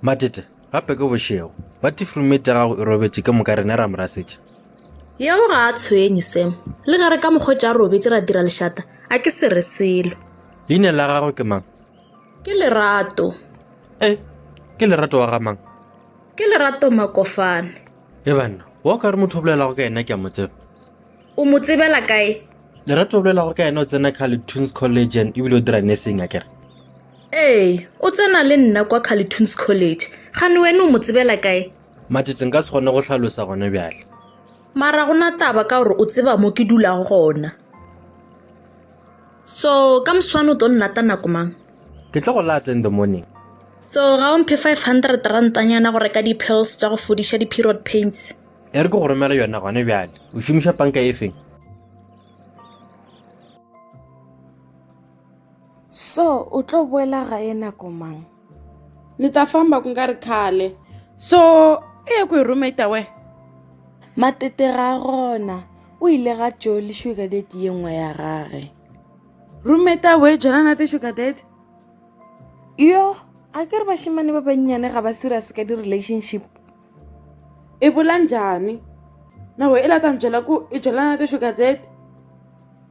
matete gape ke bošego ba tifrumete ya gago e robetše ke moka rene ra morasetša yeo ga a tshwenye sam le ge re ka mokgwetša a robetse ra dira lešata a ke se re selo leina la gago ke mang ke lerato e ke lerato wa ga mang ke lerato makofane e banna wa o ka re motho o bolelago ka ena ke a mo tseba o mo tsebela kae lerato o bolelago ka ena o tsena carletoons college and ebile o dira nursing a kere ee o tsena le nna kwa carletoons college gane wene o mo tsebela kae matete nka se kgone go tlhalosa gone bjale mara go na taba ka gore o tseba mo ke dulago gona so ka moswane o tlo nnata nako mang ke tlo go lata in the morning so ga o mphe 500 rantanyana go reka di-pills tsa go fodiša di-period pains e re ke go romela yona gone bjale o šomiša panka e feng so o tlo boela gae nako mang ni ta famba ku nga ri khale so i ye kwihi roommate ta wena matete ga gona o ile ga tjo le sugar date ye nngwe ya gage roommate ta we jona na te sugar date yo a ke re bashimane ba bannyane ga ba serious ka di-relationship e bola njhani na we i la ta ni byela ku i byelana te sugar date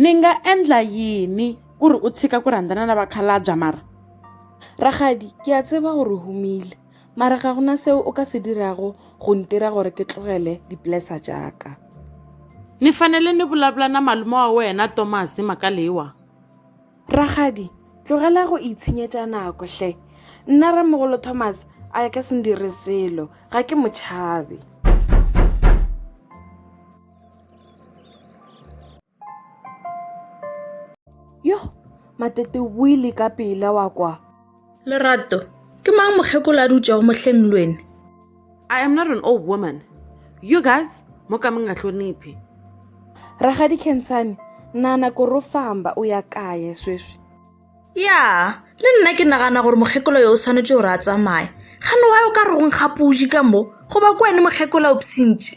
Ni nga endla yini ku ri u tshika ku rhandzana na vakhalabya mara? Rakgadi, ke a tseba gore o humile, mara ga gona seo o ka se dirago go ntira gore ke tlogele dipolesa tšaka. Ni fanele ni vulavula na malume wa wena Tomasi mhaka leyiwa. Rakgadi, tlogela go itshenyetša nako hle. Nna ramogolo Tomasi a ka se ndire selo, ga ke mo tšhabe. yo matete o buile ka pela wa kwa lerato ke mang mokgekolo a dutšego mohleng lwene i am not an old woman you guys mo ka mong a hloniphe ragadi kentshane nana koro famba o ya kaye sweswi ya le nna ke nagana gore mokgekolo yo o tshwanetse gore a tsamaye gane wa yo ka re go nkgapuji ka mo goba ko wene mokgekolo o psintše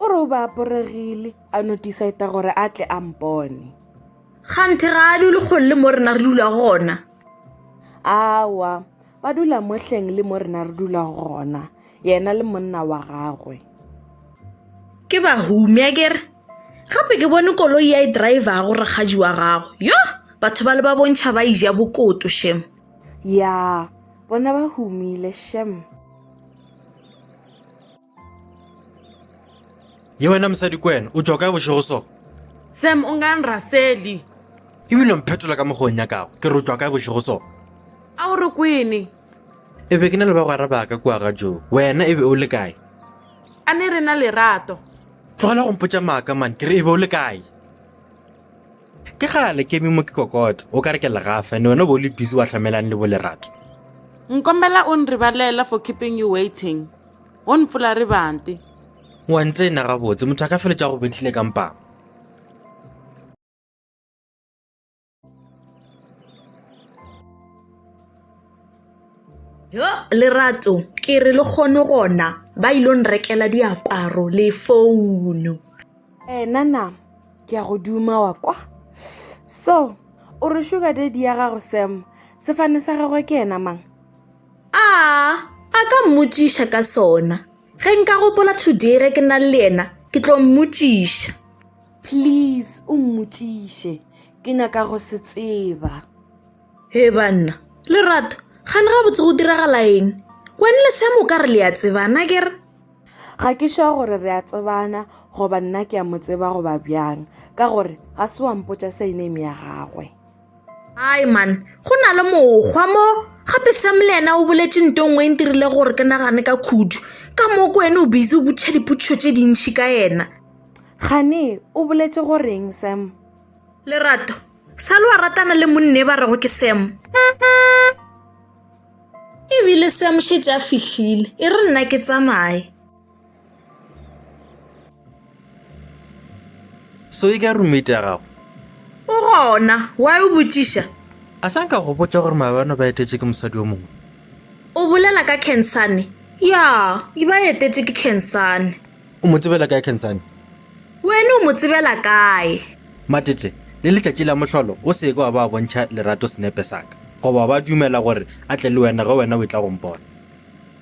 O re o ba aporegile, a no decide gore a tle a mpone. Kganthe ga a dule kgole le mo rena re dula gona. Awa, ba dula mohleng le mo rena re dula gona, yena le monna wa gagwe. Ke ba humi a kere gape ke bone koloi ya e driver go rakgadi wa gago. Yo, batho ba le ba bontšha ba ija bokoto shem. Ya, bona ba humile shem. ye wena mosadi ko wena o tloka bošego so sam o ngang raseli ebile mphetola ka mokgong ya kago ke re o tloka bošego so a o re kwene e be ke na le bagwera ba ka kua ga joo wena e be o le kae a ne re na lerato tlogela go mpotsa maaka mane ke re e be o le kae ke gale ke eme mo ke kokota o ka re ke legafa ande wena o be o le busy wa tlhamelang le bo lerato nkombela o nribalela for keeping you waiting O mpfola re bante. Wa ntsena gabotse, motho a ka feletša go betlile ka mpama. yo lerato ke re le kgone gona ba ile nrekela diaparo le founo ena na ke ya go duma wa kwa so o re sugar daddy ya gago sam sefane sa gagwe ke ena mang A a ka mmotšiša ka sona. Ge nka gopola today ge ke na le yena, ke tlo mmotšiša. Please o mmotšiše. Ke nyaka go se tseba. He banna, Lerato, gane gabotse go diragala eng? Wena le Sam o ka re le a tsebana ke re? Ga ke sure gore re a tsebana goba nna ke a mo tseba goba bjang ka gore ga se wa mpotša surname ya gagwe. Ai man, go na le mokgwa mo. Gape Sam le ena o boletse nto nngwe e ntirile gore ke nagane ka khudu. Ka moo ko ene o busy o butšha dipotšišo tše dintšhi ka ena. Gane, o boletse goreng Sam? Lerato, sa le wa ratana le monne ba rego ke Sam? Ebile Sam šetše a fihlile, e re nna ke tsamaye. so e ka roommate ya gago o gona wa o botšiša a sa nka go botša gore maabano ba etetše ke mosadi o mongwe o bolela ka cansane ya e ba etetše ke cansane o mo tsebela kae cansane wene o mo tsebela kae matete le letšatši la mohlolo o seke wa ba bontšha lerato senepe saka goba ba dumela gore a tle le wena ge wena o e tla gompona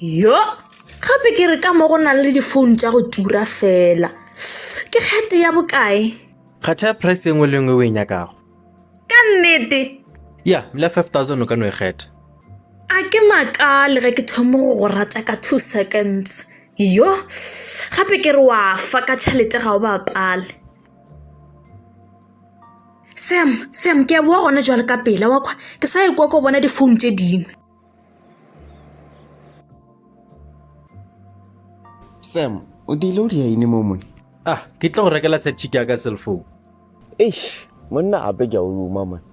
yo gape ke re ka mo go nang le difounu tša go tura fela ke kgete ya bokae kgetha price e nngwe le nngwe o e nyakago ka nnete ya mla 5000 o ka no e kgetha a ke makale ge ke thomo go go rata ka two seconds yo gape ke re wa fa ka tšhelete ga o bapale sam sam ke a boa gona jwale ka pela wa kwa ke sa e kwa ko bona difounu tse dingwe sam o dile o di yaine mo mone ah ke tlo go rekela sa chike ya ka cell phone eish monna ape ke a o ruma mone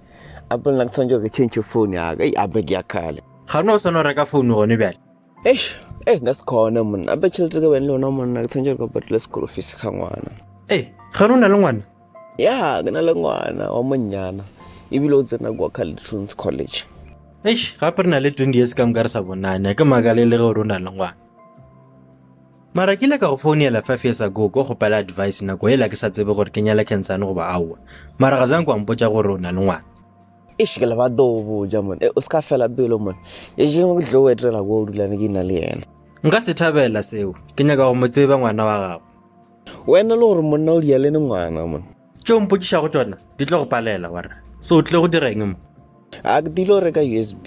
ape nna ke tshwanetse ke change phone ya ka ei ape ke ya kgale ga o ne o sone o reka founu gone bjale eish e nka se kgone monna ape tšhelete ka bene le yona monna ke tshwanetse re ka patela sekolo fees ga ngwana ee ga ne o na le ngwana ya ke na le ngwana wa monnyana ebile o tsena kwa calitrons college eish gape re na le twenty years ka moka re sa bonane ke makale le ge o re o na le ngwana mara ke ile ka go founela five years ago ko gopela advice nako ela ke sa tsebe gore ke nyala cancane goba aowa mara ga zang kwa mpotsa gore o na le ngwana Eish ke lebata go boja mone eh, o se ka fela pelo mone e jengwe ke tlo o etela ko o dulane ke na le yena nka se thabela seo ke nyaka go mo tseba ngwana wa gago wena le gore monna o dia le ne ngwana mone tšeo o mpotšišago tšona di tlo go palela wara se o tlile go dira eng mo a ke dilo reka usb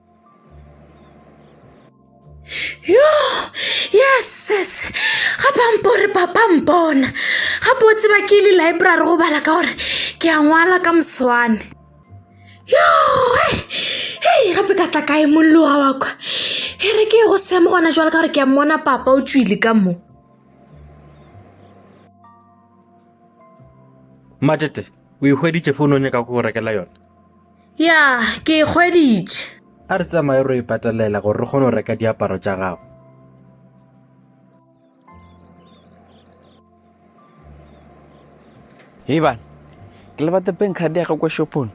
yo yeses ga pampore papa mpona ga po tseba ke ile library go bala ka gore ke a ngwala ka moswane yo hei gape ka tla kae molloga wa kwa e re ke go semo gona jwale ka gore ke a mmona papa o tswile ka mo matete o ikgweditše founong e ka go rekela yona Ya, ke e hweditše. A re tsamaye ro e patelela gore re kgone go reka diaparo tša gago. Hei bana, ke lebate bank card ya ga kwa shopong.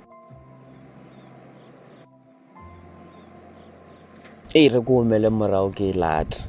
Ee, re ko omele morago ke e late.